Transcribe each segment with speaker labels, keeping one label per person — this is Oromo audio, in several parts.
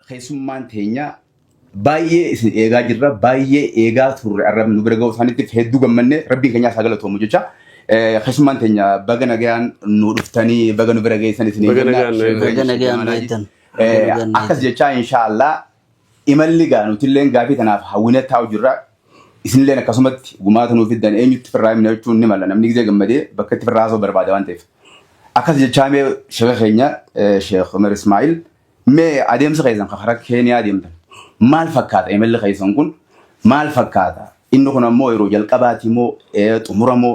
Speaker 1: keessummaan teenya baay'ee isin eegaa jirra baay'ee eegaa turre arrab nu bira ga'uu isaaniitiif hedduu gammanne rabbiin keenyaa isaa galatoomu jecha Eh, keessummaan teenya baga nagayaan nu dhuftanii baga nu bira geessan isin Baga nagaan nu eegdan. Baga nagaan beektan.
Speaker 2: Baga nagaan akkas beektan.
Speaker 1: jechaa inshaallah Imalli egaa nutilleen gaafii kanaaf hawwinee taa'u jirra. Isinilleen akkasumatti gumaata nuu fiddan eenyutti firraa himna jechuun ni mala namni gizee gammadee bakka itti firraa haasa'u barbaada waan ta'eef. Akkas jechaa mee sheeka keenya Sheek Umar Ismaa'il mee adeemsi keessan kan karaa Keeniyaa deemtan maal fakkaata imalli keessan kun maal fakkaata inni kun ammoo yeroo jalqabaati moo xumura moo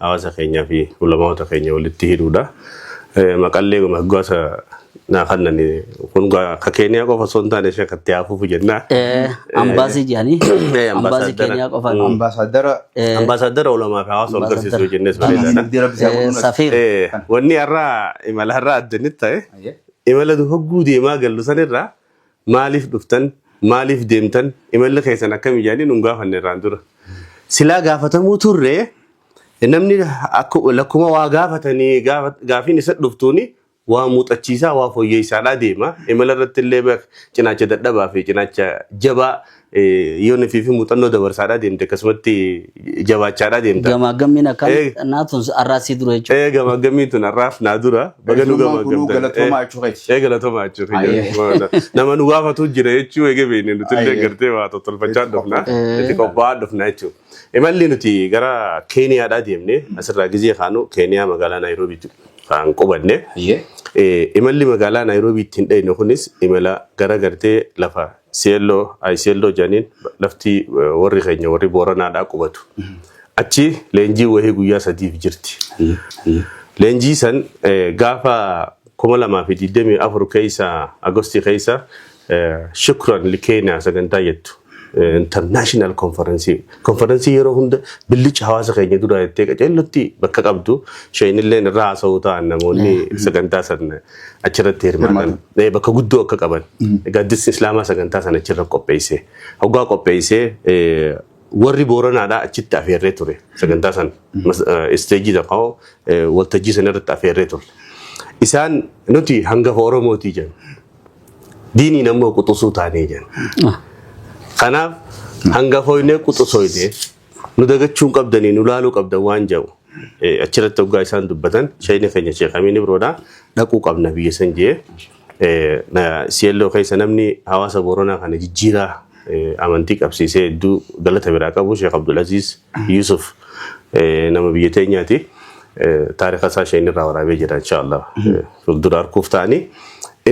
Speaker 3: hawaasa keenyaa fi ulamaa'ota keenya walitti hidhuudha. Maqallee moggaasa naa kannan kun gaa ka Keeniyaa qofa osoo hin taane ishee akka itti haafuuf jennaa. Ambaasii
Speaker 2: jedhanii Eh, ambaasii ambaasaaddara. Keeniyaa qofa Ambaasaaddara Eh,
Speaker 3: Ambaasaaddara ulamaa fi hawaasa wal Ambaasaaddara. garsiisuu jennees bareedaadha. Abdii Rabbi isaa eh, godhuun
Speaker 2: Safiir Eh, Wanni
Speaker 3: har'aa imala har'aa addanit ta'e Ayyee. imala nu hogguu deemaa gallu sanirraa Maaliif dhuftan? Maaliif deemtan? Imalli keessan akkami jedhanii nun gaafanne irraan dura. Silaa gaafatamuu turre namni lakkuma waa gaafatanii gaafiin isa dhuftuuni waa muuxachiisaa waa foyyeessaadhaa deema. Imala irratti illee cinaacha dadhabaa fi cinaacha jabaa Yoo nifii fi muuxannoo dabarsaadhaa deemte akkasumatti jabaachaadhaa deemta. Gamaaggammiin akkaan Eh.
Speaker 2: naa tun arraa sii dura jechuudha. Ee gamaaggammiin tun
Speaker 3: har'aaf naa dura baga nu Eessummaan kunuu gamaaggamtan. galatoomaa jechuu keeti.
Speaker 1: Ee galatoomaa jechuu keenya.
Speaker 3: Ayyee. Nama nu gaafatu jira jechuu eege beekne nuti illee Ayyee. gartee waa tottolfachaa Itti dhufna. qophaa'e. Itti qophaa'aa dhufna jechuudha. Imalli nuti gara Keeniyaadhaa deemne asirraa gizee kaanu Keeniyaa magaalaa Naayiroobii kan qubanne. Ayyee. Eh, imalli magaalaa Naayiroobii ittiin dhayne kunis imala gara gartee lafa Seelloo, ay Seelloo jedhaniin lafti warri keenya warri Booranaadhaa qubatu. Achi leenjii wahii guyyaa sadiif jirti. Hayyee. Hayyee. Leenjii san eh, gaafa 2024 keessa Agostii keessa eh, Shukran Likeena sagantaa jettu eh, international conference conference yeroo hunda billicha hawaasa keenya dura jettee qaceellotti bakka qabdu sheenilleen irraa haasa'uu ta'an namoonni sagantaa san achirratti hirmaatan eh, bakka guddoo akka qaban gaaddisni islaamaa sagantaa sana achirra qopheessee hoggaa qopheessee eh, warri booranaadhaa achitti afeerree ture sagantaa sana Mas- eh, isteejii tokko eh, waltajjii sana irratti afeerree ture isaan nuti hangafa oromootii jenna diiniin ammoo quxusuu taanee jenna kanaaf hangafoinee quxusoinee nu dagachuu hin qabdanii nu laaluu qabdan waan jedhu eh, achirratti hoggaa isaan dubbatan shayina keenya sheekamiin ibroodha dhaquu qabna biyya san jee eh, na- si'elloo keessa namni hawaasa booranaa kana jijjiiraa eh, amantii qabsiisee hedduu galata biraa qabu sheek abdulaziz yusuf eh, nama biyya teenyaati eh, taarika isaa shayina irraa waraabee jira inshaallah eh, fuuldura arguuf ta'anii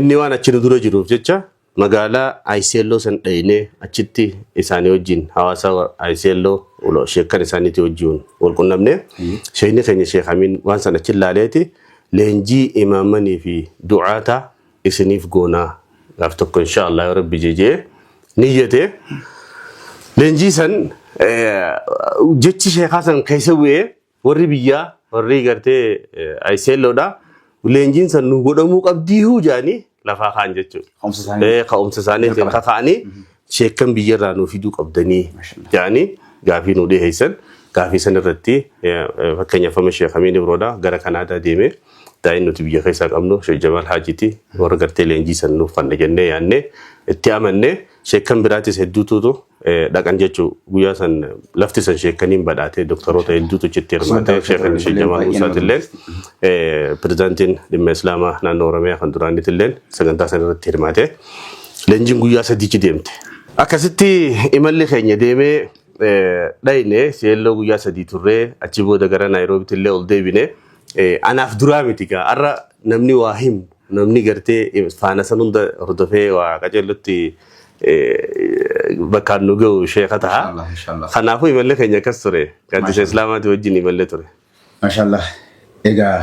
Speaker 3: inni waan achi nu dura jiruuf jecha Magaalaa Ayiseelloo san dhaynee achitti isaanii wajjin hawaasa wa- Ayiseelloo ulo- sheekkan isaaniitii wajjin wal qunnamne. Ayyee. Sheekni keenya Sheek Amiin waan san achi laaleeti leenjii imaamanii fi du'aata isiniif goonaa gaaf tokko insha Allah yoo rabbi jejee niyyate. Leenjii san eh, jechi sheekaa san keessa bu'ee Warri biyyaa warri gartee ayiseelloodha. Leenjiin san nu godhamuu qabdiihuu jaanii lafaa kaan jechuudha. Ka'umsa isaanii. Ee ka'umsa isaaniitiin Jalqaba. kaka'anii sheekkan biyyarraa nu fiduu qabdanii Mashallah. jaanii gaafii nu dhiheessan. Gaafii san irratti eh, eh, fakkeenyaaf amma sheek Amiin Ibroodha gara Kanaadaa deemee daa'in nuti biyya keessaa qabnu sheek Jamaal Haajiiti warra gartee leenjii san nuuf fanna jennee yaannee itti amannee sheekkan biraatis hedduutuutu dhaqan jechuun guyyaa san lafti san sheekaniin badhaatee doktaroota hedduutu achitti hirmaatee sheekan ishee jamaa Muusaatilleen pirezidaantiin dhimma islaamaa naannoo Oromiyaa kan duraaniitilleen sagantaa san irratti hirmaatee leenjiin guyyaa sadiichi deemte. Akkasitti imalli keenya deemee dhayne seelloo guyyaa sadii turree achi booda gara Naayiroobiitillee ol deebine anaaf duraa miti gaa har'a namni waa himu Namni gartee faana san hunda hordofee waa qajeellutti bakkaan nu ga'u sheeka taha. Inshallah inshallah. Kanaafuu imalli keenya akkas ture. Gaaddisa Mashallah. Islaamaatii wajjin imallee ture. Mashallah.
Speaker 1: Egaa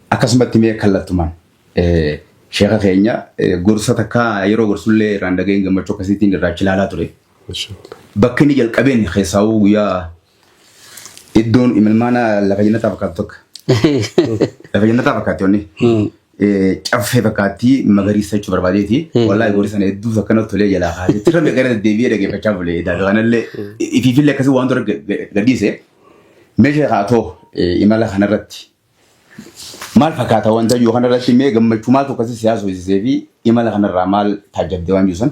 Speaker 1: akkasumatti mee kallattumaan eh, sheeka keenya eh, gorsa takka yeroo gorsullee irraan dhaga'een gammachuu akkasiitiin irraa achi ilaalaa ture. Bakki inni jalqabeen keessaawuu guyyaa Iddoon imilmaana lafa jannataa fakkaatu tokko. Lafa jannataa fakkaatti wanni. Caffee fakkaatti magariisa jechuu barbaadeeti. Wallaahi goori sana hedduu takka natti tolee jalaa kaasee. Tirra gara deddeebi'ee dhaggeeffachaa bule. Daakuu kanallee ifiifillee akkasii waan dura gadhiise. Meeshaa kaatoo imala kanarratti maal fakkaata wanta jiru kanarratti mee gammachuu maaltu akkasii siyaasa hojjisee fi imala kanarraa maal taajjabdee waan jiru san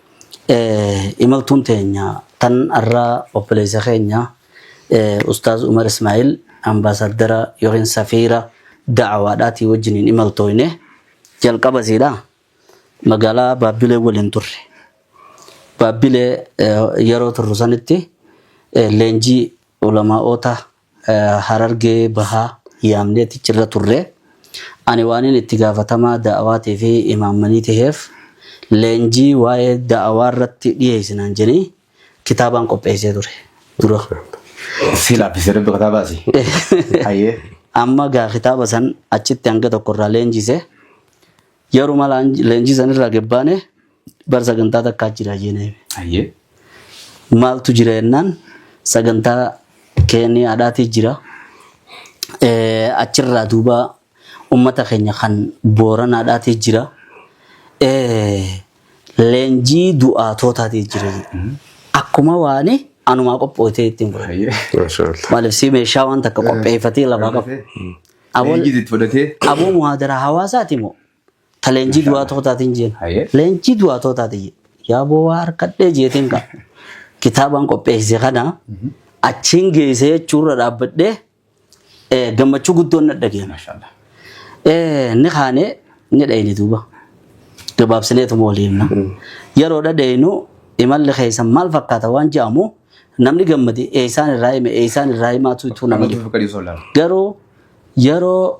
Speaker 2: Imaltuun teenya tan arraa obboleessa keenya Ustaaz Umar Ismaa'il ambaasaaddara yookiin safiira da'awaadhaatii wajjiniin imaltooyne jalqaba isiidha magaalaa Baabbilee waliin turre. Baabbilee yeroo turru sanitti leenjii ulamaa'oota Harargee Bahaa yaamnee tichirra turre. Ani waanin itti gaafatamaa da'awaatii fi imaammanii taheef leenjii waa'ee da'awaa irratti dhiyeessi naan jedhanii kitaabaan qopheessee ture. Dura. Si
Speaker 1: laaffisee rabbi kataa baasi. Hayyee. Amma gaa
Speaker 2: kitaaba san achitti hanga tokko irraa leenjise. Yeruma leenjii san irraa gabbaane Bar sagantaa takkaa jira jee na hime. Ayyee. Maaltu jira jennaan sagantaa keenii haadhaatii jira. Eh, Achirraa duuba uummata keenya kan booranaadhaatii jira. Eh, Leenjii du'aatootaatii jira. Akkuma waani anumaa qophootee ittiin godhe. Ayyee. Mashallah. Maaliif
Speaker 3: si meeshaa waan
Speaker 2: takka qopheeffatee lafaa qabu. Aboo- Leenjii itti fudhatee. Aboo muhaadaraa hawaasaati moo? Ta leenjii Masha du'aa Allah. tootaatiin jeen. Haye. Leenjii du'aa tootaati jee. Yaa bowaa harkadhee jeetiin ka. Kitaabaan qopheesse kana achiin geessee jechuurra dhaabbadhee eh, gammachuu guddoon na dhageera. Masha Allah.
Speaker 1: Eh,
Speaker 2: ni kaanee ni dhayne duuba gabaabsineetuma walii himna yeroo dhadhaynu imalli keessa maal fakkaata waan jedhamu namni gammade eeysaan irraa hime eeysaan irraa himaatu ituu nama Nama dhibu duuba qadii osoo ilaalu. garuu yeroo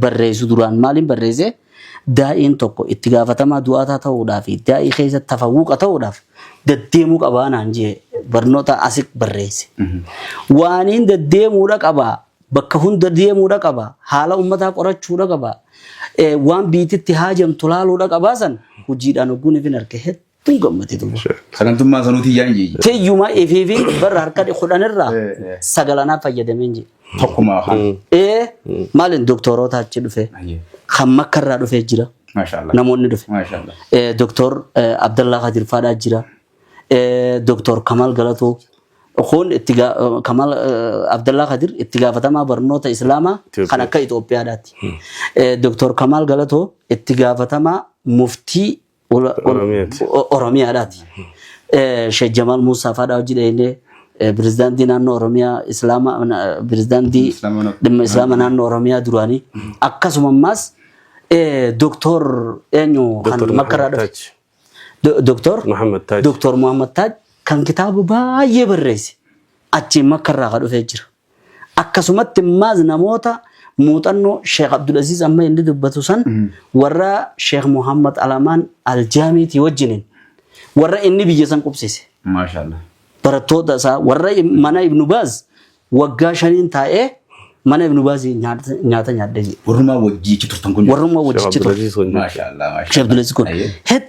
Speaker 2: barreessu duraan maaliin barreesse daa'iin tokko itti gaafatamaa du'aataa ta'uudhaa fi daa'ii keessa tafawwuqa ta'uudhaaf daddeemuu qabaa naan jee barnoota asik barreesse. Waaniin daddeemuudha qabaa bakka hunda deemuudha qabaa haala ummataa qorachuudha qabaa waan biititti haajamtu laaluudha qabaa san hojiidhaan ogguun ifin arke hedduu. Tun gammate duuba. Sagantummaa sanuu tiyyaa
Speaker 1: hin jiyye. Teyyuma efiifiin
Speaker 2: barra harka kudhanirraa sagalanaa fayyadameen jee. Tokkumaa afaan.
Speaker 1: Ee maaliin
Speaker 2: doktoroota achi dhufe Ayyee. kan makkarraa dhufee jira Maashaallah. namoonni dhufe.
Speaker 1: Maashaallah.
Speaker 2: Eh, Doktor eh, Abdallaa Kadir Faadhaa jira. Eh, Doktor Kamal Galatoo. Kun itti gaa- eh, Kamal eh, Abdallaa Kadir itti gaafatamaa barnoota Islaamaa Itoophiyaa. kan akka Itoophiyaadhaati. Eh, Doktor Kamal Galatoo itti gaafatamaa muftii Ula- ula- Oromiyaati. O- Oromiyaadhaati. Eh, Sheikh Jamaal Muusaa faadhaa hojii dhahillee pirezidaantii naannoo Oromiyaa Islaama na- pirezidaantii Islaama na- dhimma Islaama naannoo Oromiyaa duraanii akkasuma ammaas eh, Doktor eenyu kan Doktor makkaraa Muhammad dhufe. Taaj. Do- Doktor Muhammad Taaj. Doktor Muhammad Taaj kan kitaaba baay'ee barreesse achiin makkarraa ka dhufee jira. Akkasumatti immaas namoota muuxannoo Sheekh Abdulaziiz amma inni dubbatu san warra Sheekh Muhammad Alamaan Aljaamiitii wajjiniin warra inni biyya san qubsise. Maashaallah.
Speaker 1: barattoota isaa
Speaker 2: warra im- mana Ibnu Baaz waggaa shaniin taa'ee mana Ibnu Baaz nyaata nyaata nyaadhe jedhe. Warrumaa wajjii achi
Speaker 1: turtan kun. Warrummaa Sheekh wajjichi ture. Abdulaziiz kun
Speaker 2: jechuudha. Maashaallah. Sheekh
Speaker 1: Abdulaziiz kun Ayyee.
Speaker 2: hedduu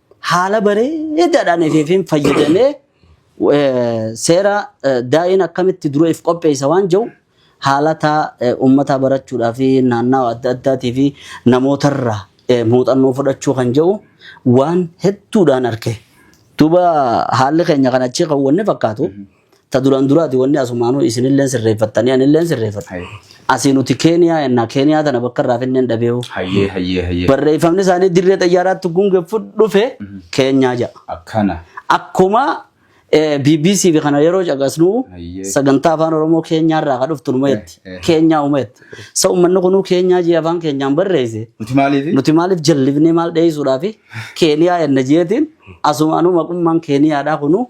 Speaker 2: haala bareedaadhaan FFM fayyadamee eh, seera eh, daa'in akkamitti dura if qopheessa waan jiru haalata eh, uummataa barachuudhaa fi naannawaa adda addaatii fi namootarraa eh, muuxannoo fudhachuu kan jiru waan hedduudhaan arge. Duuba haalli keenya kan achii kan wanni fakkaatu Ta duraan duraati wanni asumaanuu isinilleen sirreeffattanii anilleen sirreeffadha. Haye. Asii nuti Keeniyaa ennaa Keeniyaa tana bakka irraa finneen dhabeewu. Hayyee hayyee hayyee. Barreeffamni isaanii dirree xayyaaraatti gungeffu dhufe Keenyaa ja'a. Akkana.
Speaker 1: Akkuma
Speaker 2: eh, BBC fi kana yeroo caqasnu Hayyee. sagantaa afaan Oromoo Keenyaa irraa ka dhuftu numa jetti. Eh, eh. Keenyaa uma jetti. Sa uummanni kunuu Keenyaa jee afaan keenyaan barreesse. Nuti maaliifi? Nuti maaliif jallifnee maal dheessuudhaa fi Keeniyaa enna jeetiin asumaanuu maqummaan Keeniyaadhaa kunuu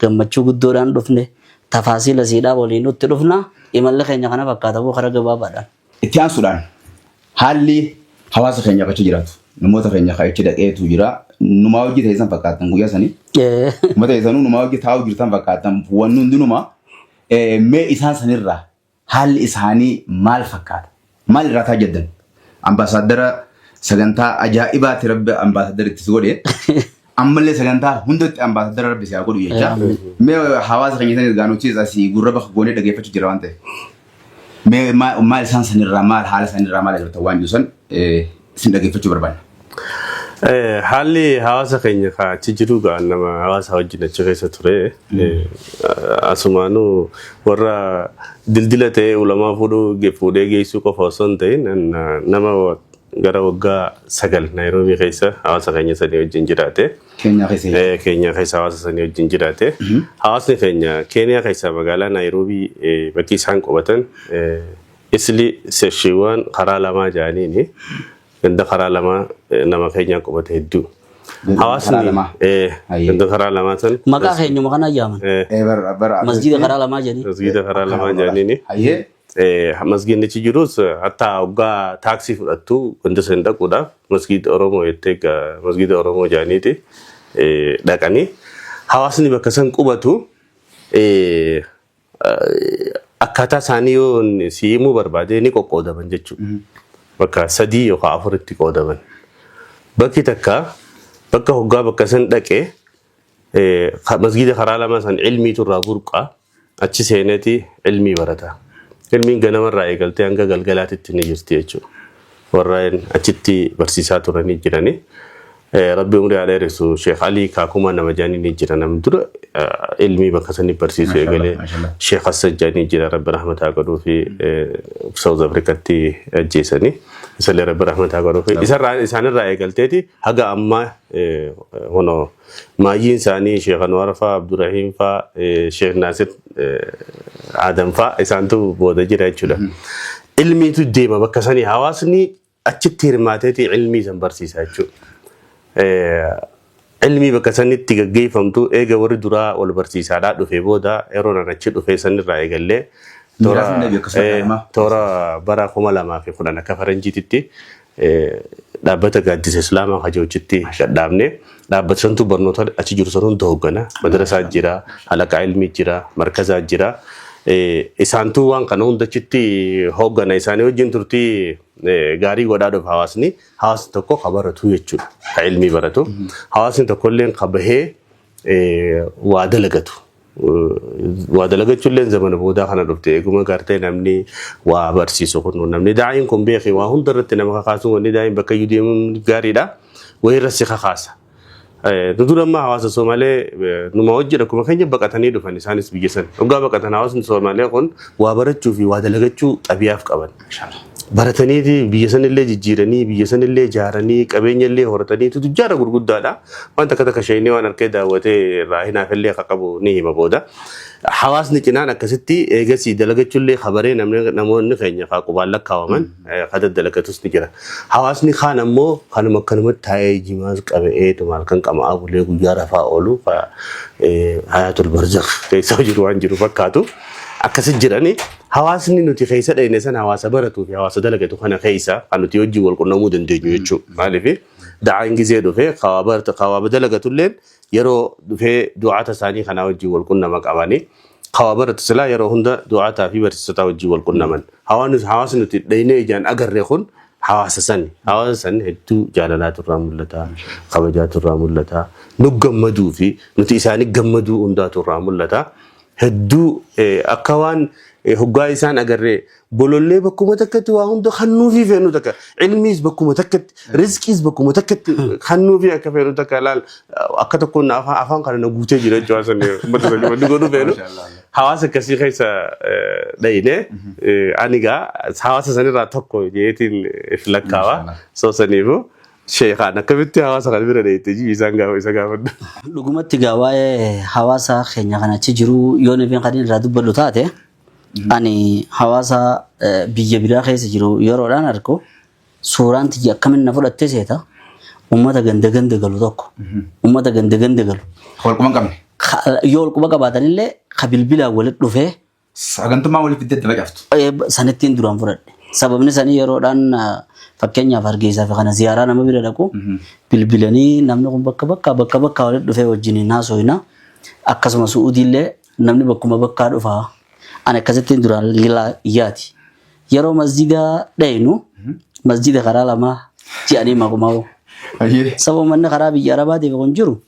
Speaker 2: Gammachuu guddoodhaan dhufne. Tafaasiila isiidhaa waliinuu itti dhufna. Imalli keenya kana fakkaata moo karaa gabaabaadhaan? Itti aansuudhaan
Speaker 1: haalli hawaasa keenyaa ka achi jiraatu. Namoota keenya ka achi dhaqeetu jira. Numaa wajji teessan fakkaattan guyyaa sanii. Ee. Uummata keessanuu numaa wajji taa'uu jirtan fakkaattan. Wanni hundinumaa mee isaan sanirraa Haalli isaanii maal fakkaata? Maal irraati hajjaddan? Ambaasaaddara sagantaa ajaa'ibaati rabbi ambaasaaddara itti si godhe. Ammallee sagantaa hundatti ambaasaaddara rabbi si haa godhu jecha. Mee hawaasa keenya isanis gaanuchis asii gurra bakka goonee dhageeffachuu jira waan ta'eef. Mee maal isaan sanirraa maal haala sanirraa maal agartan waan jiru san isin dhageeffachuu barbaanna. Eh,
Speaker 3: Haalli hawaasa keenya ka achi jiru gaa nama hawaasa wajjin achi keessa ture. Eh, Asumaanuu warra dildila ta'ee ulamaa fuudhuu ge- fuudhee geessuu qofa osoo hin ta'in na- nama wa- gara waggaa sagal Naayiroobii keessa hawaasa keenya sadii wajjin jiraate. Keenyaa keessa jira. Eh, Keenyaa keessa hawaasa sanii wajjin jiraate. Hawaasni keenya Keeniyaa keessaa magaalaa Naayiroobii eh, bakki isaan qubatan eh, Isli seshiiwwaan karaa lamaa jaaniini ganda karaa lamaa eh, nama keenyaa qubate hedduu. Ganda karaa Hawaasni lamaa. eh, Ayyee. ganda karaa lamaa san Maqaa keenyuma kana yaaman.
Speaker 2: eh, Eh, bara- bara- Masjiida karaa lamaa jedhanii. masgiida karaa lamaa
Speaker 3: jaaniini. Hayyee. Eh, masgiinnichi jirus eh, hatta hoggaa taaksii fudhattu ganda san dhaquudhaaf masgiida Oromoo jettee ga- masgiida Oromoo jaaniiti eh, dhaqanii hawaasni bakka san qubatu eh, Akkaataa isaanii yoo si himuu barbaade ni qoqqoodaman jechuudha. Bakka sadii yookaan afuritti qoodaman. Bakki takka bakka hoggaa bakka san dhaqe masgiida karaa lama san ilmiitu irraa burqa achi seeneeti ilmii barata. Ilmiin ganamarraa eegaltee hanga galgalaatitti ni jirti jechuudha. Warreen achitti barsiisaa turanii jiranii. Rabbi umrii haa dheeressu Sheekh Alii kaakuma nama jaanii ni jira namni dura ilmii bakka sanii barsiisu eegalee Sheekh Hassan jaanii jira Rabbi rahmataa godhuu fi South Afrikatti ajjeesanii isallee Rabbi rahmataa godhuu fi isarraa isaanirraa eegalteeti haga ammaa hono maayyiin isaanii Sheekh Anwar faa Abdurrahiim faa Sheekh Naasir Adam faa isaantu booda jira jechuudha. Ilmiitu deema bakka sanii hawaasni achitti hirmaateeti ilmii san barsiisa jechuudha. Ilmii bakka sanitti gaggeeffamtu eega warri duraa wal barsiisaadhaa dhufee booda yeroo nan achi dhufee sanirraa eegallee toora Miiraafin dhabi akkasuma eh, kanama. toora bara kuma lamaa fi kudhan akka faranjiititti eh, dhaabbata gaaddisa islaamaa hajoochitti dhadhaabne. Dhaabbata santu barnoota achi jiru san hunda hooggana. Madarasaa jira, halaqaa ilmii jira, markazaa jira. Eh, Isaantu waan kana hunda achitti hooggana. Isaanii wajjin turtii eh, gaarii godhaa dhufa hawaasni. Hawaasni tokko ka baratu jechuudha. Ka ilmii baratu. Hawaasni tokko illee ka bahee eh, waa dalagatu. waa dalagachuulleen zamana boodaa kana dhufte eeguma gartee namni waa barsiisu kun namni daa'iin kun beeki waa hunda irratti nama kakaasuun wanni daa'iin bakka iyyuu deemuun gaariidha wayii irra si kakaasa. Nu dura ammaa hawaasa Somaalee numa hojjedha akkuma keenya baqatanii dhufan isaanis biyya sana. Hoggaa baqatan hawaasni Somaalee kun waa barachuu fi waa dalagachuu xabiyaaf qaban. Mashallah. barataniiti biyya sanillee jijjiiranii biyya sanillee ijaaranii qabeenya illee horataniitu tujjaara gurguddaadha. Waan takka takka sheeynii waan harkee daawwatee irraa hinaafillee akka qabu ni hima booda. Hawaasni cinaan akkasitti eegasii dalagachullee habaree namni namoonni keenya kaa qubaan lakkaawaman eh, ka daddalagatus ni jira. Hawaasni kaan ammoo kanuma akkanumatti taa'ee jimaas qaba'eetu maal kan qama'aa bulee guyyaa rafaa oolu ka eh, hayaatul barzakh keessa jiru waan jiru fakkaatu akkasi jiranii Hawaasni nuti keessa dhayne san hawaasa baratuu fi hawaasa dalagatu kana keessa kan nuti hojii wal qunnamuu dandeenyu jechuudha. Maaliif da'aan gizee dhufee kawaaba dalagatulleen yeroo dhufee du'aata isaanii kanaa hojii wal qunnama qabanii kawaaba baratu silaa yeroo hunda du'aataa fi barsiisotaa hojii wal qunnaman. Hawaasni nuti dhaynee ijaan agarre kun hawaasa sani. Hawaasa san hedduu jaalalaa turraa mul'ata, kabajaa turraa mul'ata, nu gammaduu fi nuti isaanii gammaduu hundaa turraa mul'ata. hedduu akka waan hoggaa isaan agarree bolollee bakkuma takkatti waa hunda hannuufii feenu takka ilmiis bakkuma takkatti rizqiis bakkuma takkatti hannuufii akka feenu takka laal akka tokkoon na afaan afaan kana na guutee jira jechuudha san uummata sanii wanti godhu feenu hawaasa akkasii keessa dhayine ani gaa hawaasa sanirraa tokko jeetiin if lakkaawa soo saniifu Sheekaan akkamitti hawaasa kana bira deemte jibi isaan gaafa isa gaafadhu. Dhugumatti gaa
Speaker 2: waa'ee hawaasa keenya kan achi jiru yoo nifin kan irraa dubbadhu taate ani hawaasa eh, biyya biraa keessa jiru yeroodhaan argu suuraan tiyya akkamiin na fudhattee seeta uummata ganda ganda galu tokko uummata ganda ganda galu Walquma hin qabne.
Speaker 1: ka- yoo walquba
Speaker 2: qabaatanillee ka bilbilaan walitti dhufee Sagantummaa waliif
Speaker 1: itti adda facaaftu. Eh, sanittiin duraan
Speaker 2: fudhadhe. Sababni sanii yeroodhaan ah, fakkeenyaaf hargeysaa fi kana ziyaaraa nama bira dhaqu bilbilanii namni kun bakka bakka bakka bakka walitti dhufee wajjin hin haasofna. Akkasuma su'uudiillee namni bakkuma bakkaa dhufa. Ani akkasittiin duraan lilaa- yaati. Yeroo masjida dhaynu masjida karaa lamaa ji'anii maqumaa'u. Ayyee. Sababa manni karaa biyya arabaatiif kun jiru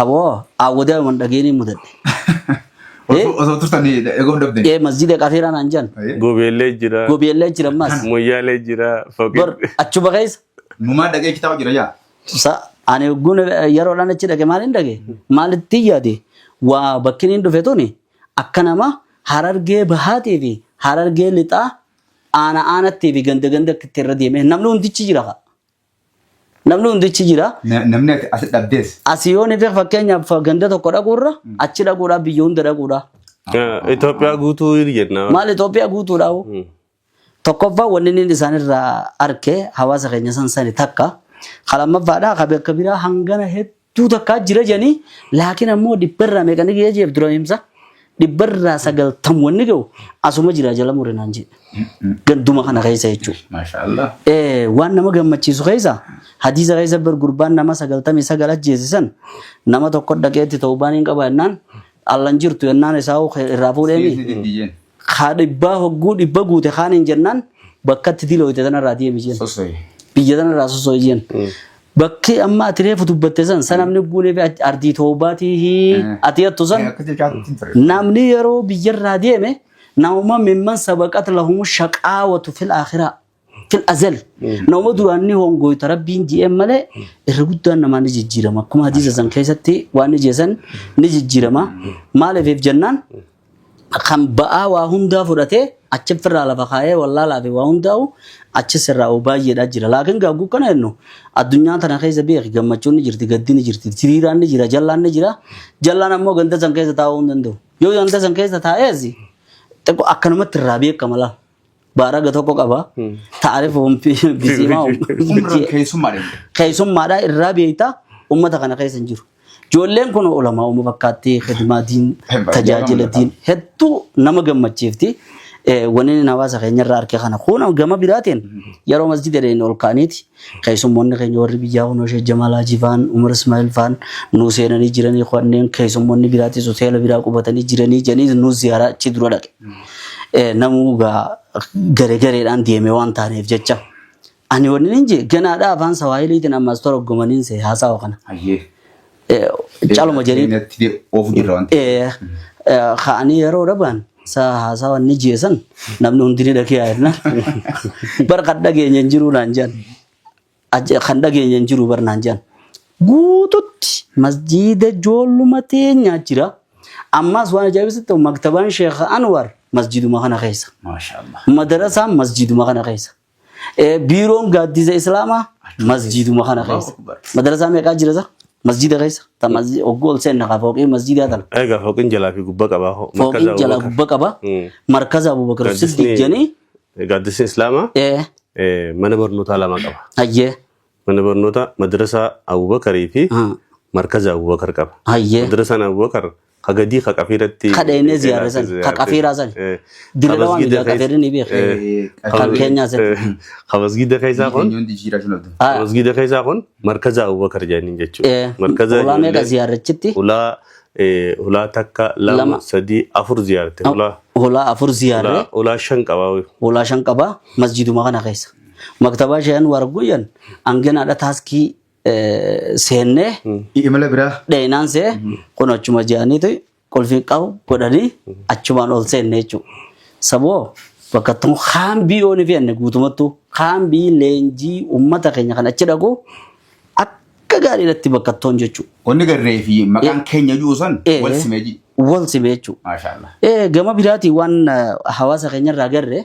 Speaker 2: Aboo awwadee anuman dhageenii mudadhe. Eh? Osoo osoo turtan eeguu hin dhabdeen. Ee masjiida qafeeraa naan jedhan. Ayyee. Gobeellee jira. Gobeellee jira ammas. Moyyaalee jira.
Speaker 3: Foqee. Bar achuma keessa.
Speaker 2: Numaa dhagee
Speaker 1: kitaaba jira yaa. Sa ani
Speaker 2: ogguun yeroodhaan achi dhage maal hin dhage? Maalitti yaade? Waa bakki inni dhufe tuni akka nama harargee bahaatii fi harargee lixaa aana aanattii fi ganda ganda itti irra deeme namni hundichi jira fa'a. Namni hundichi jira.
Speaker 1: Na- Namni ati- asi dhabdees. Asii yoo ni ta'e
Speaker 2: fakkeenyaaf ganda tokko dhaquurra achi dhaquudhaa biyya hunda dhaquudhaa. Eh, Itoophiyaa
Speaker 3: guutuu hin jenna. Maal Itoophiyaa guutuudhaa
Speaker 2: hoo? Hmm. Tokkoffaa wanni inni isaanirraa arke hawaasa keenya san sani takka. Kan lammaffaadhaa kan bakka biraa hangana hedduu Tuu takkaa jira jedhanii laakiin ammoo dhibbarraa meeqa ni ga'ee jeef dura himsa dhibbarraa sagaltam wanni ga'u asuma jira jala mure naan jedhe ganduma kana keessa jechuudha. Maashaa Allah. Eh,
Speaker 1: waan nama
Speaker 2: gammachiisu keessa hadiisa keessa bar gurbaan nama sagaltamii sagal ajjeesisan nama tokko dhaqeetti ta'uu baaniin qaba jennaan allan jirtu jennaan isaa hoo irraa fuudheemi Siisni diddiyyeen. kaa dhibbaa hogguu dhibba guute kaaniin jennaan bakkatti dilooyte tanarraa deemi jeen Sosooyi. biyya tanarraa sosooyi jeen Bakkee amma ati reefu dubbatte san san namni buunee fi ati- ardii toobaatii hi ati hattu san Akka jechaatti hin ture. namni yeroo biyyarraa deeme nauma mimman sabaqat lahumu shaqaawatu fil akhiraa fil azali nauma duraan ni hongoyta rabbiin ji'een malee irra guddaan namaa ni jijjiirama akkuma hadiisa san keessatti waan ni jeesan ni jijjiirama maaliif jennaan kan ba'aa waa hundaa fudhatee achi firraa lafa kaa'ee wallaalaa fi waa hundaa'u achi sirraa oo baay'eedhaa jira. Laakiin gaagguu kana jennu addunyaa tana keessa beeki gammachuun ni jirti gaddi ni jirti hiriiraan ni jira jallaan ni jira jallaan ammoo ganda san keessa taa'uu hin danda'u. Yoo ganda san keessa taa'ees xiqqoo akkanumatti irraa beekama laal. baaraga tokko qaba. Taarifa biziimaa Umra keessummaa deemu. keessummaadhaa irraa beektaa uummata kana keessa hin jiru. Ijoolleen kun olamaa uuma fakkaatti hidimaa diin Hedduu tajaajila nama diin hedduu nama gammachiifti. Eh, Wanni inni hawaasa keenya irraa arge kana kun gama biraatiin yeroo masjida deemne ol kaaniiti Keessummoonni keenya warri biyyaa kunoo Sheek Jamaal Haajii faan, Umar Ismaa'il faan nuu seenanii jiranii kanneen keessummoonni biraatis hoteela biraa qubatanii jiranii jedhanii nuu ziyaaraa achi dura dhaqe. Eh, Namuu gaa garee gareedhaan deeme waan taaneef jecha. Ani wanni hin jee ganaadhaa afaan Sawaahiliitiin ammas toroggomaniin see haasawa kana. Ayyee. Caluma jedhee. Keenyatti de- oofu jirra wanti. Eh, eh, ka'anii yeroo dhaban saa haasaa wanni jeesan namni hundi ni dhagee yaadna. Bar kan dhageenya hin jiru naan jedhan. Ajje- Kan dhageenya hin jiru bar naan jedhan. Guututti masjiida joolluma teenya jira. Ammas waan ajaa'ibsitti maktabaan Sheekh Anwar masjiiduma kana keessa. Maashaallah. Madarasaan
Speaker 1: masjiiduma
Speaker 2: kana keessa. Eh, Biiroon gaaddiisa Islaamaa masjiiduma kana keessa. Madrasaa meeqaa jira sa? Masjiida keessa. Ta masji- Ogguu ol seenna kaa fooqii masjiidaa tana. Egaa fooqiin jalaa fi
Speaker 3: gubbaa qabaa hoo. Fooqiin jalaa gubbaa
Speaker 2: qaba. Mm. Markaza Abubakar Siddiq jedhanii. Gaaddisni
Speaker 3: Islaamaa eh, eh, mana barnootaa lama qaba. hayyee.
Speaker 2: Mana barnoota
Speaker 3: madrasaa Abubakarii fi Haa. markaza Abubakar qaba. Hayyee. Madrasaan Abubakar ka gadii ka qafiiratti. Ka dheenee ziyaarre san,
Speaker 2: ka qafiiraa san. Dirree Lawaa miidhaa qafiirri ni beeku. Kan keenyaa san. Ka masgiida keessaa
Speaker 3: kun. Hundi jiraa shulabdu. Haa. Ka masgiida keessaa kun markaza Abubakar jedhaniin jechuudha. Eh, Markaza ulaa meeqa ijoollee- ziyaarrachitti?
Speaker 2: Ulaa eh,
Speaker 3: ulaa takka Lama. lama sadii afur ziyaarte. Ulaa Ulaa afur
Speaker 2: ziyaarre. ulaa- ulaa shan qabaa.
Speaker 3: ulaa shan qaba masjiduma kana keessa.
Speaker 2: Maktabaa Sheehan Waarguyyan hanginaadha taaskii eh, seennee Imala
Speaker 1: biraa. dheenaan see
Speaker 2: kun achuma ji'aniiti qulfii qabu godhanii achumaan ol seenne jechuudha. Saboo bakka tun haambii yoo ni fe'anne guutumattuu haambii leenjii uummata keenya kan achi dhaqu akka gaariidhatti bakka toon jechuudha. Wanni garree fi
Speaker 1: maqaan keenya jiru san Eh, wal simee jiru. Wal simee jechuudha.
Speaker 2: Maashaallah. Eh, gama
Speaker 1: biraatiin waan
Speaker 2: eh, hawaasa keenya irraa agarre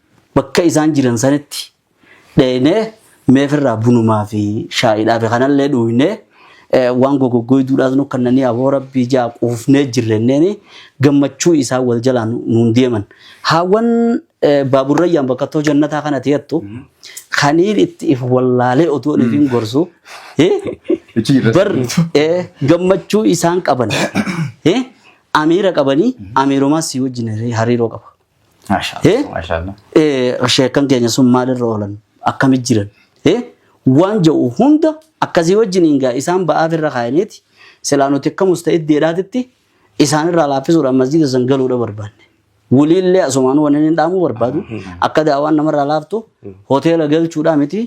Speaker 2: Bakka isaan jiran sanitti dheeynee mee firraa bunumaa fi shaayiidhaa fi kanallee dhuuynee waan gogoggoyduudhaas nu kannanii aboo rabbii jaa quufnee jirra jenneeni gammachuu isaan wal jalaa nuun deeman. Haawwan Baabur Rayyaan bakkattoo jannataa kana teettu kaniin itti if wallaalee otuu an ifiin gorsu Achi jirra bar sirriitu. ee, gammachuu isaan qaban ee, amiira qabanii amiirumaas si wajjin hariiroo qaba.
Speaker 1: Eh? Maashaallah. Eh,
Speaker 2: sheekan keenya sun maalirra oolan akkami jiran Eh? waan ja'u hunda akkasii wajjin hingaa isaan ba'aaf irra kaa'aniiti silaa nuti akka musta'id deedhaatitti isaan irraa laaffisuudhaan masjiida san galuudha barbaanne waliillee asumaan waniin hin dhaamuu barbaadu akka daawaan namarraa laaftu hoteela galchuudhaa miti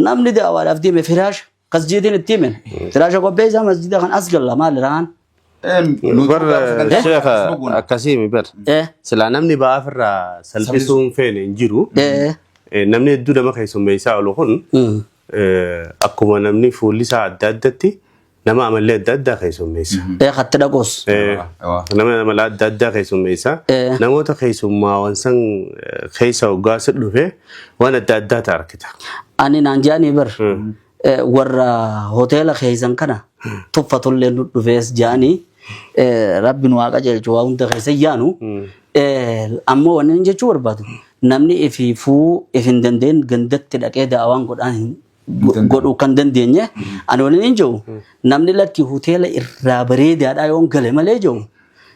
Speaker 2: namni daawaadhaaf deeme firaasha Kas jeetiin itti himen. Firaasha qopheessaa masjida kan as galla maal iraan? Bar
Speaker 3: sheekha akkasii mi bar. Eh. Silaa namni ba'aa ofirraa salphisuu hin feene hin jiru. Eh. Eh, Namni hedduu nama keessummeessaa oolu kun Mm. eh, akkuma namni fuulli isaa adda addatti nama amallee adda addaa keessummeessa. Eh katti dhaqoos.
Speaker 2: Eh, Waa. Nama
Speaker 3: amala adda addaa keessummeessa. Eh. Namoota keessummaawwan san eh, keessa hoggaa si dhufe Waan adda addaa ta'a argita. Ani naan jaanii
Speaker 2: bar eh, warra hoteela keessan kana tuffatullee nu dhufees jaanii eh, rabbi nu waaqa jeelchu waa hunda keessa yaanu eh, ammoo wanni inni jechuu barbaadu namni ifiifuu if hin dandeen gandatti dhaqee daawaan godhaan hin godhuu kan dandeenye ani waliin hin jiru namni lakki hoteela irraa bareedaadha yoon gale malee jiru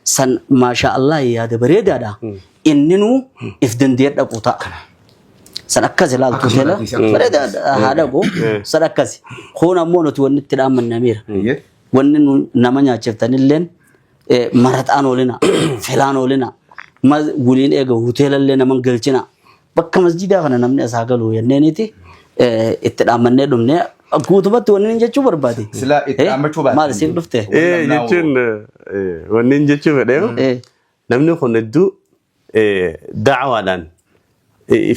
Speaker 2: san maashaa Allah yaada bareedaadha inninuu if dandee dhaqu ta'a. San akkas ilaaltu Akkas hoteela ilaaltu, akkas bareedaa ilaaltu. haa dhaqu Eh. san akkas kun ammoo nuti wanni itti dhaamannamiira. Eeyyee. wanni nu nama nyaachiftanilleen eh, maraxaan oolina felaan oolina ma waliin eega hoteelallee naman galchina Bakka masjiidaa kana namni asaa galu jenneeniiti itti dhaammannee dhumne guutumatti wanni inni jechuu barbaade. Silaa itti dhaammachuu
Speaker 1: baate. Maal siif dhufte? Ee
Speaker 2: jechuun
Speaker 3: wanni inni jechuu fedheeru namni kun hedduu daawaadhaan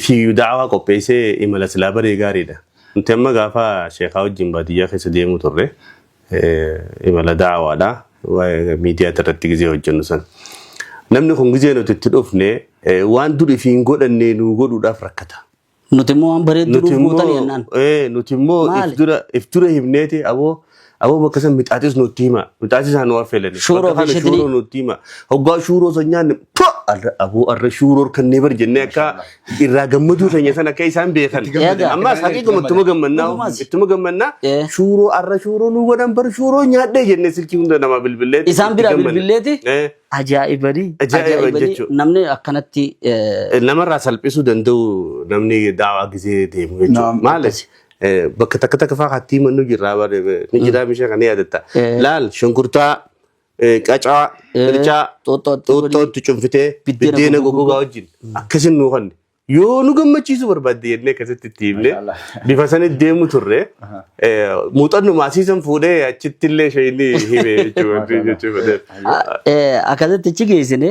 Speaker 3: fiigu daawaa qopheessee imala silaa baree gaariidha. Nuti amma gaafa sheekaa wajjin baadiyyaa keessa deemuu turre. imala daawaadha miidiyaa irratti gizee hojjennu san namni kun gizee nuti itti dhufne waan dur ifi hin godhanne nuu godhuudhaaf rakkata. Nuti immoo waan
Speaker 2: bareedduu
Speaker 3: Nuti nuuf
Speaker 2: gootan jennaan.
Speaker 3: immoo
Speaker 2: ee, nuti
Speaker 3: immoo if
Speaker 2: Maali? dura
Speaker 3: if
Speaker 2: dura
Speaker 3: himneeti
Speaker 2: aboo
Speaker 3: aboo bakka san mixaaxis nutti hima mixaaxis haa nu affeelani Shuuroo bakka kana fi shitrii. shuuroo
Speaker 2: nutti hima
Speaker 3: hoggaa shuuroo san nyaanne pa arra aboo arra shuuroo kannee bar jennee akka irraa gammaduu keenya san akka isaan beekan. Itti gammadan. Eegaa. Ammaas haqiiquma ittuma gammannaa Dhugumas. ittuma gammannaa Eh. shuuroo arra shuuroo nu godhan bar shuuroo nyaadhee jennee silkii hunda namaa bilbilee. Isaan bira bilbileeti
Speaker 2: ajaa'ibanii Ajaa'iba jechuudha. namni akkanatti eh, Namarraa
Speaker 3: salphisuu danda'u namni daawaa gisee deemu Naam. jechuudha. Maalis bakka takka takka fa'aa hattii mannu jirraa bare ni jiraa mishaa kan yaadatta. Eh. Laal shunkurtaa eh, qacaa, Eh, qircaa, xuuxxootti godhii. xuuxxootti cunfitee Biddeena biddeena goggogaa goggogaa wajjin akkasin nuu kanne. Yoo nu gammachiisuu barbaadde jennee akkasitti itti himne Mashallah. bifa sanitti deemu turre Aha. eh, muuxannoo maasiisan fuudhee achitti illee ishee inni hime jechuudha. Mashallah. jechuudha. Ah, eh,
Speaker 2: akkasitti achi geessine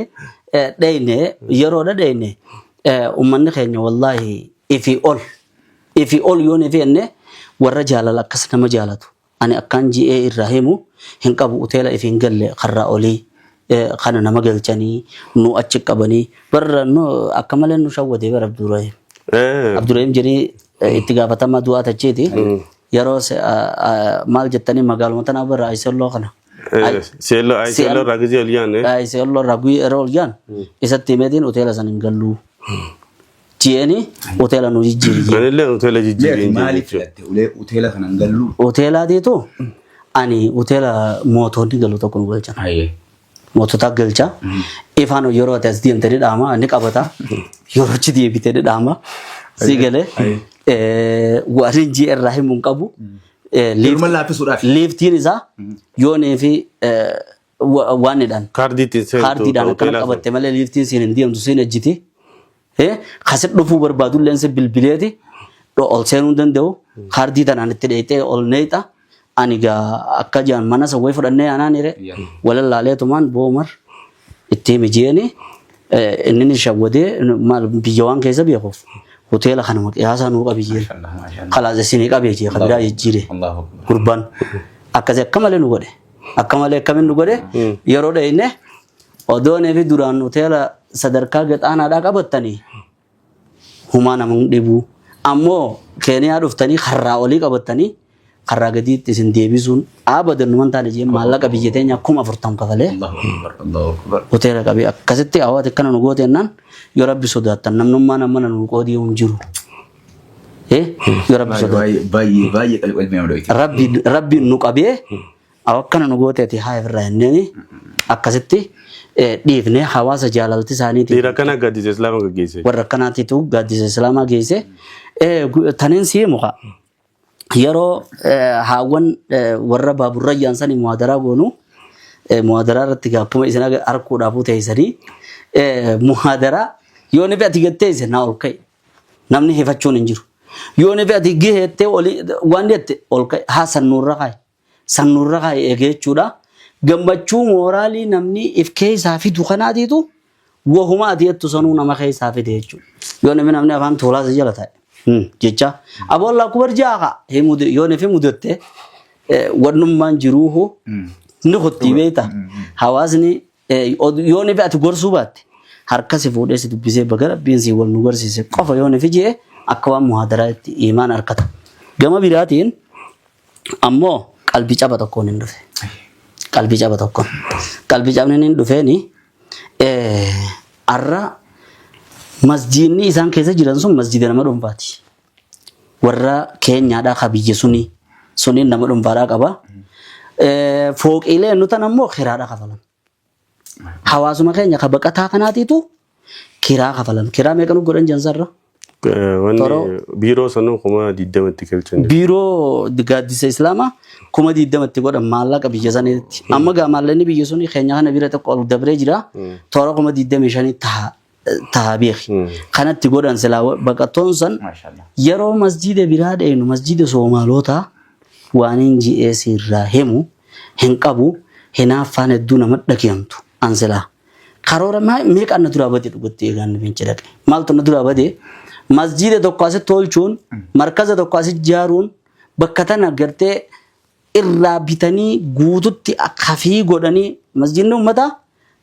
Speaker 2: eh, dheyne yeroodha dheyne eh, ummanni keenya wallaahi ifi ol ifi ol yoon ifi jenne warra jaalala akkas nama jaalatu Ani akkaan ji'ee irraa himu hin qabu uteela if hin galle karraa olii kana nama galchanii nu achi qabanii bar nu akka malee nu shawwadee bar Abdurahim. Abdurahim jirii itti gaafatamaa du'aa tachiiti yeroo se- a- a- maal jettanii magaaluma tanaa bara Ayiselloo kana. Ay- Seelloo ay
Speaker 3: seelloo irraa gizee ol yaanne. Ayiselloo irraa guyyaa
Speaker 2: yeroo ol jaan isatti himeetiin uteela san hin galluu. Jeeni hoteela nu jijjiiri jee. Anillee hoteela Mee ati
Speaker 3: jijjiiriin maaliif jechuudha. filatte ulee
Speaker 1: hoteela kanan galluu? Hoteelaatiitu
Speaker 2: ani hoteela mootoonni galu tokko nu galchan. Ayyee.
Speaker 1: Mootota
Speaker 2: galcha. Ifaan yeroo ati as deemte ni dhaama ni qabata. Yeroo achi deebite ni dhaama. Si galee. Eh, Waan injii irraa himu hin qabu. Eh, liif- Yeruma laaffisuudhaaf. Liiftiin isaa yoonii fi eh, wa- waan jedhan Kaardii ittiin seentu
Speaker 3: kaardiidhaan akkana hoteelaa sun. qabatte
Speaker 2: malee liiftiin siin hin deemtu siin ejjiti. Eh, Kasi dhufuu barbaadu illee si bilbileeti dho- ol seenuu hin danda'u. Kaardii tanaan itti dheeyxee ol neeyxa. Ani gaa akka jaan mana sawwee fudhannee aanaan hire walallaalee tumaan boomar itti himi jeeni inni ni shawwadee maal biyya waan keessa beekuuf hoteela kana maqiyaasaa nuu qabi jeeni. Kalaas isin qabee jee kabiraa jijjiire Allahu Akbar. gurbaan akkasii akka malee nu godhe. Akka malee akkamiin nu godhe yeroo dhayne odoonee fi duraan hoteela sadarkaa gexaanaadhaa qabattanii humaa nama hin dhibu. Ammoo keeniyaa dhuftanii karraa olii qabattanii karraa gadiitti isin deebisuun abadan numan taane jee maallaqa biyya teenya kuma afurtam kafalee Allahu Akbar, Allahu Akbar. hoteela qabee akkasitti hawaati akkana nu goote jennaan yoo rabbi sodaattan namnummaan ammana nu qoodii hin jiru. Eh, yoo rabbi Baay'ee sodaate. baay'ee baay'ee baay'ee qalbii qalbii
Speaker 1: nama dho'ite. rabbi rabbiin nu qabee
Speaker 2: akkana nu gooteeti haa irraa hinneeni akkasitti eh, dhiifne hawaasa jaalalti isaaniitiin Dhiira kana gaddisa islaama
Speaker 3: gaggeesse. warra akkanaatiitu
Speaker 2: gaaddisa islaamaa geesse Eh, gu- taneen sii muka yeroo haawwan warra baaburrayyaan sanii muhaadaraa goonu muhaadaraa irratti gaakkuma isin harkuudhaafuu teessanii muhaadaraa yoo nifi ati gattee isin naa ol ka'e namni hifachuun hin jiru. Yoo nifi ati giheettee waan jette ol ka'e haasan nurra kaa'i. San nurra kaa'e eege jechuudha. Gammachuu mooraalii namni if keessaa fidu kanaatiitu wahuma ati jettu sanuu nama keessaa fide jechuudha. Yoo namni namni afaan tuulaa si jala taa'e hmm, jecha aboo Allah kubar ja'a ka'a Hii mude- yoo nafi mudatte eh, wannummaan jiruuhu ni kuttii beekta. Hawaasni eh, od- yoo nafi ati gorsuu baatte harka si fuudhee si dubbisee baga rabbiin si wal nu garsiise qofa yoo nafi jee akka waan muhaadaraa itti imaan harkata. Gama biraatiin Ammoo qalbii caba tokkoon hin dhufe. Qalbii caba tokkoon. Qalbii cabni inni hin dhufeeni har'a masjiidni isaan keessa jiran sun masjiida nama dhuunfaati. Warra keenyaadhaa ka biyya sunii suniin nama dhuunfaadhaa qaba. Fooqiilee nutan ammoo kiraadhaa kafalan. Hawaasuma keenya ka baqataa kanaatiitu kiraa kafalan. Kiraa meeqa nu godhan jansarra? Eh, Wanni Toroo.
Speaker 3: biiroo sanuu kuma digdamatti galchan. Biiroo
Speaker 2: gaaddisa Islaamaa kuma digdamatti godhan maallaqa biyya saniitti. Amma gaa maallaqni biyya suni keenya kana bira tokko ol dabree jira. Toora kuma digdamii shanii taha taha beeki. Kanatti godhan silaa wa- baqattoon san Maashaallah. yeroo masjiida biraa deemnu masjiida Soomaalootaa waaniin ji'ee siirraa himu hin qabu hinaaffaan hedduu nama dhageentu an silaa. Karoora maa- meeqa na duraa bade dhugatti eegaan na fince dhaqe. Maaltu na duraa bade masjiida tokko asitti tolchuun markaza tokko asitti jaaruun bakka tana gartee irraa bitanii guututti kafii godhanii masjidni ummataa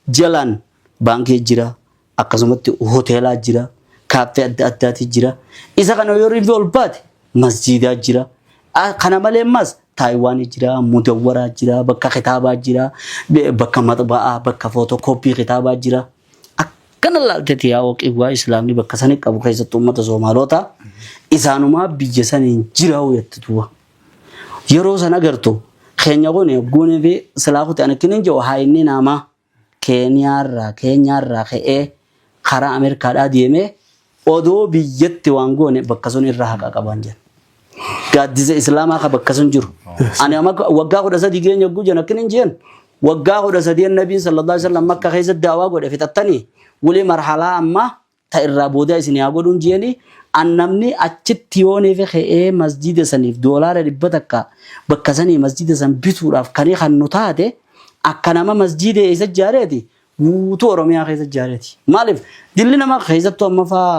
Speaker 2: jalaan baankii jira akkasumatti hoteelaa jira kaaffee adda addaati jira isa kana yoo riinfi ol baate masjidaa jira kana malee ammas taayiwaanii jira mudawwaraa jira bakka kitaabaa jira bakka maxba'aa bakka footokooppii kitaabaa jira akkana laalteeti yaa waqiwwaa islaamni bakka sanii qabu keessatti ummata soomaalootaa isaanumaa biyya saniin jiraa'u yatti duwwa Yeroo san agartu keenya kun hogguunii fi silaa kuti ani kinin jiru haa inni naama keeniyaarraa keenyaarraa ka'ee karaa Ameerikaadhaa deemee odoo biyyatti waan goone bakka sun irra haqa qabaan jedhan. Gaaddisa Islaamaa ka bakka sun jiru. Ani amma waggaa kudha sadii geenya hogguu jedhan kinin jiran waggaa kudha sadeen nabiin sallallahu alaihi wasallam makka keessa daawaa godhe fixattanii wali marhalaa ammaa ta irraa boodaa isinii haa godhuun jeeni an namni achitti yoo neefe ke'ee masjiida saniif doolaara dhibba takka bakka sanii masjiida san bituudhaaf kanii kannu taate akka nama masjiida eessa jaareeti guutuu oromiyaa keessa jaareeti maaliif dilli nama keessattuu amma faa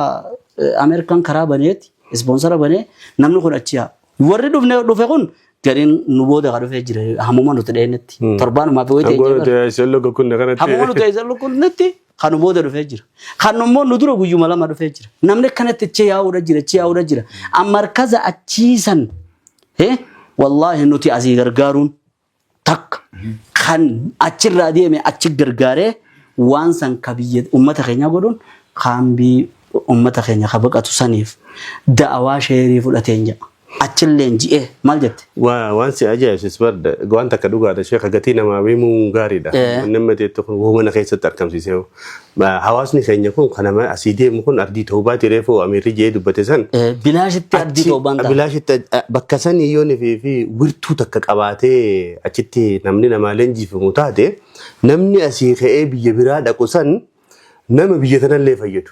Speaker 2: ameerikaan karaa baneeti ispoonsara banee namni kun achi yaa warri dhufne dhufe kun gariin nu booda ka dhufee jira hamuma nuti dheenetti torbaanumaa fi wayita Hangoon nuti eeyyama eessan lukka kunne kanatti. hamuma nuti eessa lukkunnetti Kan nu booda dhufee jira. Kan immoo nu dura guyyuma lama dhufee jira. Namni akkanatti achi yaa'uudha jira, achi yaa'uudha jira. Amma markaza achiisan eh, wallaahi nuti asii gargaaruun takka kan achirraa deeme achi gargaaree waan san ka biyya uummata keenya godhuun kaambii uummata keenya ka baqatu saniif da'awaa sheerii fudhateen jedha. Achiin leenji'ee maal jette? Waa waan si ajaa'ibsis
Speaker 3: barda waan takka dhugaadha sheeka gatii namaa beemuun gaariidha. Eh. Wanni amma teettu kun wuu mana keessatti argamsiisee hoo. Ba- Hawaasni keenya kun kan nama asii deemu kun ardii toobaati reefuu amiirri jee dubbate san. Eh, Bilaashitti ardii
Speaker 2: Achi- toobaan ta'a. bilaashitti aj- a- bakka
Speaker 3: san yoo nifii fi wirtuu takka qabaatee achitti namni namaa leenjiifamu taate namni asii ka'ee biyya biraa dhaqu san nama biyya tanallee fayyadu.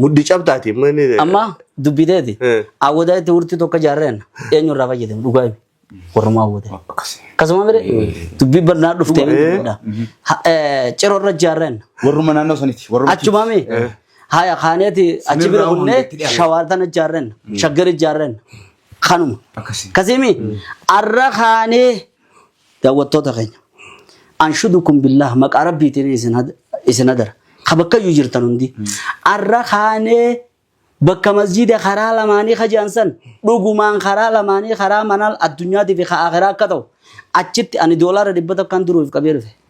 Speaker 3: Muddi cabtaati. Amma
Speaker 2: dubbiteeti. Eh. Awwadaa itti urtii tokko jaarreen eenyu irraa fayyadamu dhugaa himi. Warrumaa awwate. Akkasuma mire dubbii bal'aa dhuftee Eh. miidhudha. Ciroo irra jaarreen Warruma naannoo saniti.
Speaker 1: Warruma achuma mi
Speaker 2: haya kaaneeti achi bira irraa kunnee hundatti dhiyaate. shawaartan ijaarren shaggar ijaarren kanuma Akkasii. kasimi arra kaanee Daawwattoota keenya. Anshudukum billah maqaa rabbiitiin isin had- isin adara. Ka bakkayyuu jirtan hundi. Arra kaanee bakka masjiida karaa lamaanii ka jedhan san dhugumaan karaa lamaanii karaa manal addunyaatiif ka akhiraa akka ta'u achitti ani doolaara dhibba tokkoon duruuf qabee dhufe.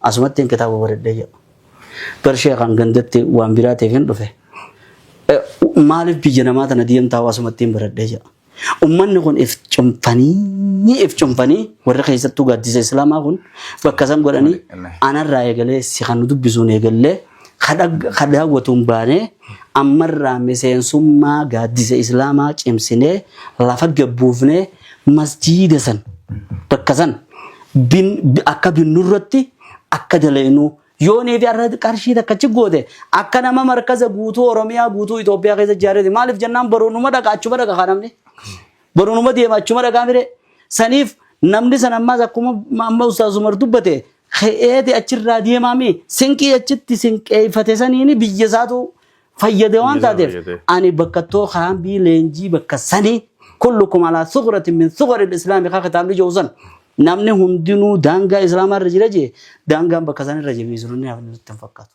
Speaker 2: Asumattiin kitaaba baredhee jedha. Gar sheekaan gandatti waan biraatiif hin dhufe. Eh, Maaliif biyya namaa tana deemtaa asumattiin baredhee jedha. Ummanni kun if cunfanii if cunfanii warri keessattuu gaaddisa islaamaa kun bakka san godhanii Waliin. anarraa eegalee si kan nu dubbisuun eegallee ka daawwatu hin baane ammarraa miseensummaa gaaddisa islaamaa cimsinee lafa gabbuufnee masjiida san bakka san akka binnu irratti akka dalaynuu yoonii fi arra qarshii takka achi goote akka nama markaza guutuu oromiyaa guutuu Itoophiyaa keessa ijaarrete maaliif jennaan baruunuma dhaqa achuma dhaqa kaa namni baruunuma deema achuma dhaqaa mire saniif namni san ammaas akkuma amma ustaaz Umar dubbate ka'eeti achirraa deemaa mee sinqii achitti sinqeeffate saniini biyya isaatu fayyade waan Biyya isaa taateef fayyade. ani bakkattoo kaambii leenjii bakka sanii kullukum alaa suqratin min suqari islaami kaa kitaabni jiru san namni hundinuu daangaa islaamaa irra jira jee daangaan bakka san irra jee miisironni hafan nutti hin fakkaatu.